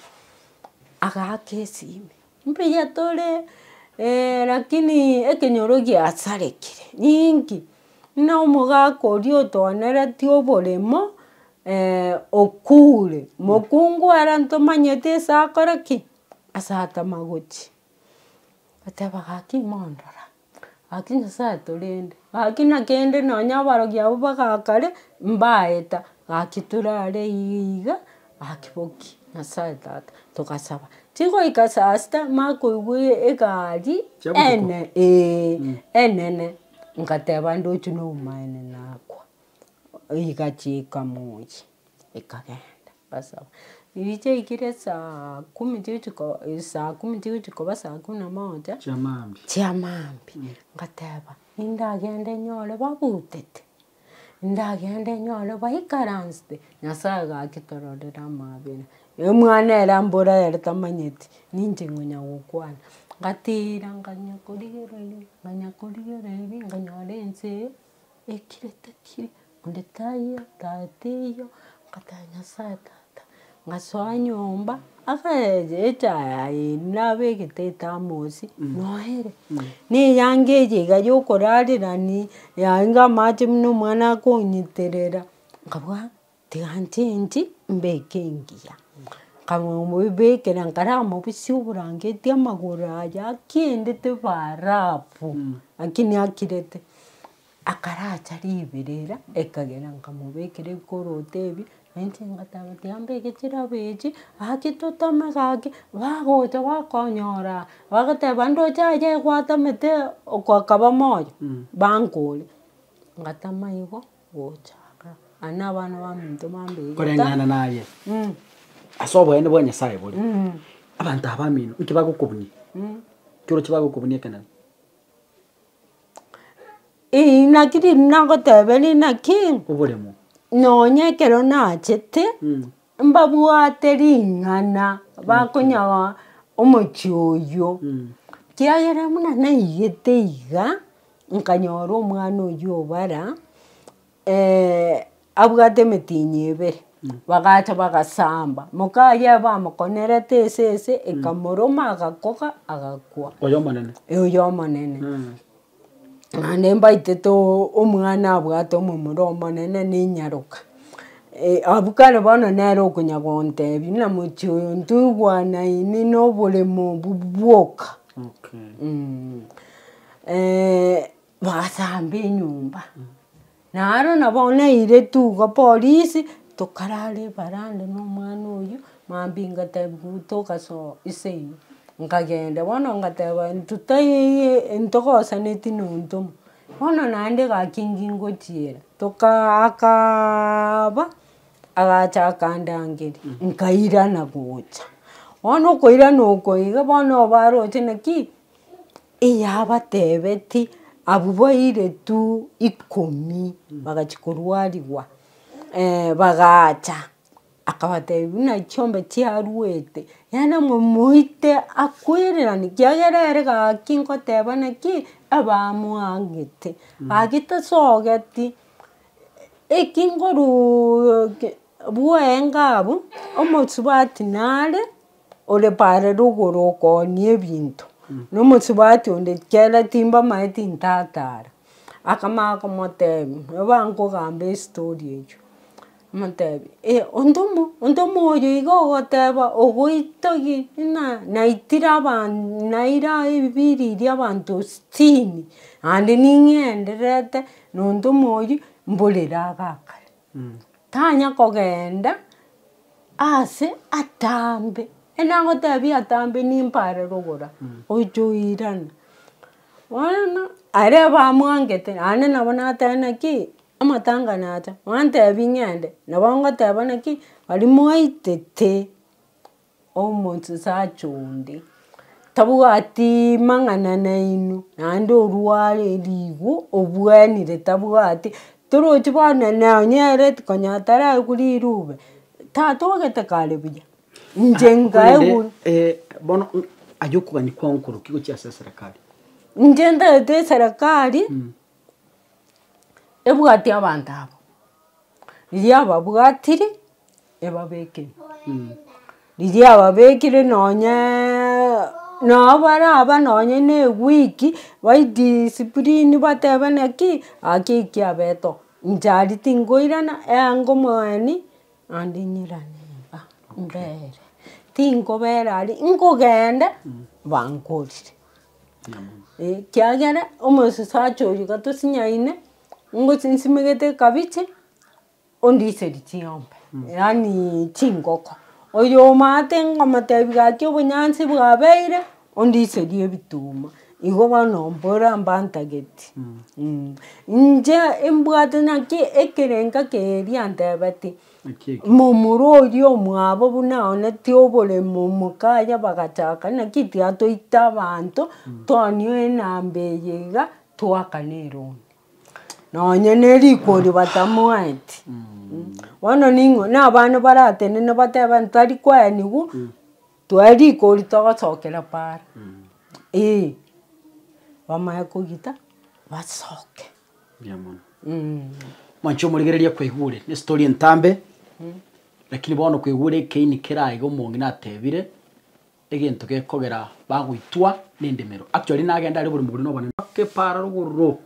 agaaka esimi, mbuya tore, lakini ekenyoro giasarekire ninki, buna omogaka oria otoonereti oboremo okure, mokungu are ntomanyeti ase akore ki? Ase atama gochia. Oteba gaki mondo ra. Gaki Nyasae atorende, gaki na kende nonya abarogi abwo bagakare, mbaeta, gaki torare iga, gaki boki Nyasae tata, togasaba. Tigoika saa sita makoigwa egari ene ee, enene, ngateba ndoche nobomaene nakwa, iga chiika moyie. ekagenda basaba, riria chiaikire saa kumi chiochiko saa kumi chiochia koba saa kumi na moja, chia maambia, chia maambia, ngateba nindagende nyore babutete, ndagende nyore baikaransete, Nyasaye gaki tororera amaabera, omwana ere ambore ere tamanyeti, ninche nkonya gokwana, ngatira nkanya korigereria, nkanya korigereria, nkanyora ense. Ekire tekiri, onde taiyo, tare teiyo, nkateba nyasaye tata, ngasoa nyomba, ase eeh echa yaye nabegete etamosi, noere, na eyanga eye iga yokorarerani, yaye niga amache buna omwana akonyiterera, nkabua. Tiga ntinti mbeke engiya. Nkagenda komobekera nkare amabisa oborangeti amagoro aye akiendete barafu, lakini akirete. Akaracha riberera ekagera nkamobekera ekoroto ebi, nainche ngateba tiga mbeke chirabi echi, gaki toteme gaki, bagocha bakonyora bagoteba ndoche aye gwatemete okokaba moyo, bankore. Ngatama igo. Koreng'ana naye, ase oboene bwa Nyasae bore, abanto aba abamino inki bagokobunia? Inki oroche bagokobunia ekenene? Inaki riria nagoteberia inaki, Oboremo. Nonya ekero nachete, mbabwate ring'ana bakonyaa omochie oyio, kiagera buna naigete iga. Nkanyora omwana oyio o bara abwate emetienyi ebere, bagacha bagasamba, moka aye bamokonerete ese ese ekamoroma agakoga agakwa. Oyo omonene. Oyo omonene. Naende mbaitete omwana abwate omomura omonene na enyaroka. Abwo kare bono nere okonya gontebia buna mochie oyo ntoigwanaine na oboremo obwo bwoka. bagasamba enyomba, naro na bono nairetu iga polisi, tokarara evaranda na omwana oyio, mambia ngatebia gu togasoa ase eyio, nkagenda bono ngateba intwe taiiyi ntogosaneti na ontwe omo, bono naende gaki nkingochiera, tokaa akaaba, agacha akandangeria, nkairana gocha, bono okoirana oko iga bono obaroche naki. Eyabateebeti, Abwo baire tu ikomi bagachia korwarigwa, bagacha, akabateebia buna chiombe chiaruete, yaani momoite akoireranie, kiagera ere gaki nkoteba naki, abamwangete, gaki tasogeti, eki nkoruuuuke bwoenga abwo, omosubati nare. ore paare rogoro okoonia ebinto, na omosubati onde chiera timbamaeti ntatara. Akamanya komotebia, nigo bankogamba estory echio, amotebi eh ontomo ontomo oyo iga ogoteba ogoita gi ng'a naitire aban naira ebibiri eria abanto sitini naende ning'endererete na ontomo oyio mborere agakare. Tanya kogeenda aase atambe, enagotebia atambe nimbe are rogoro aa, oiche oirane. Bono aria abamwangete naende nabo nateba naki amatanga nacha, bantebia ng'ende, nabo ngoteba naki, aria mwaitete. Omosacha onde tabwati mang'ana nainwe naende orware rigo obwanire tabwati torochi bono nonye ereti konya taraegwe riruube tata ogete kare buya inche ngaegwe. bono aye okogania kwao nkorokigwe chiase eserekari? Inche ntagete eserekari ebwatia abanto aba, riria ababwatiri ebabekire. Riria ababekire nonyeeeee nabo bare aba nonye ne ewiki baidiscipline batebe naki gaki eki abeto inche aria tinkoirana eango mwane naende nyirane iga mbere. Tinkobera aria nkogenda bankorire. Ekiagera omosacha oyo gatosinyaine, ngochi nsimegete ekabichi, ondiserie ching'ombe, yaani chingoko. Oyo omanyete ngomotebi gaki obonyansi bwabeire, ondiserie ebituma. Igo bono mbore mbantageti. Inche mbwate naki ekerenga keria antebetie. Momura oria omwabo buna aonetie oboremo omokaya bagachaka, naki tiatoite abanto tonio enamba eye iga twakane erondi. Nonye ne rikori batamoeti. Bono ning'o na abana baratenene bateba ntari kwenigwa toe rikori togosokera paara. Eeh. Bamanye kogita basoke. Mbuya mono. Mwancho omorigereria kwaigure ne story entambe lakini bono kwaigure ekeini kere aiga omonge natebire egento gekogera bagoitwa ne endemero. Actually nagende are oborimo bore no obonene mpaka epara rogororo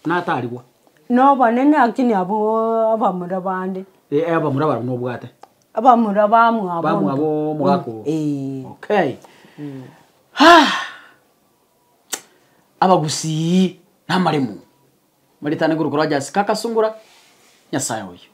buna atarigwa. No obonene lakini abwo abamura bande. Ee abamura barabwo no obwate. Abamura ba mwabo. Ba mwabo omogaka oo. Ee. Okay. Haa. abagusii, namaremo, baretane korwa korwa Jasi, kakasungora Nyasaye oyio.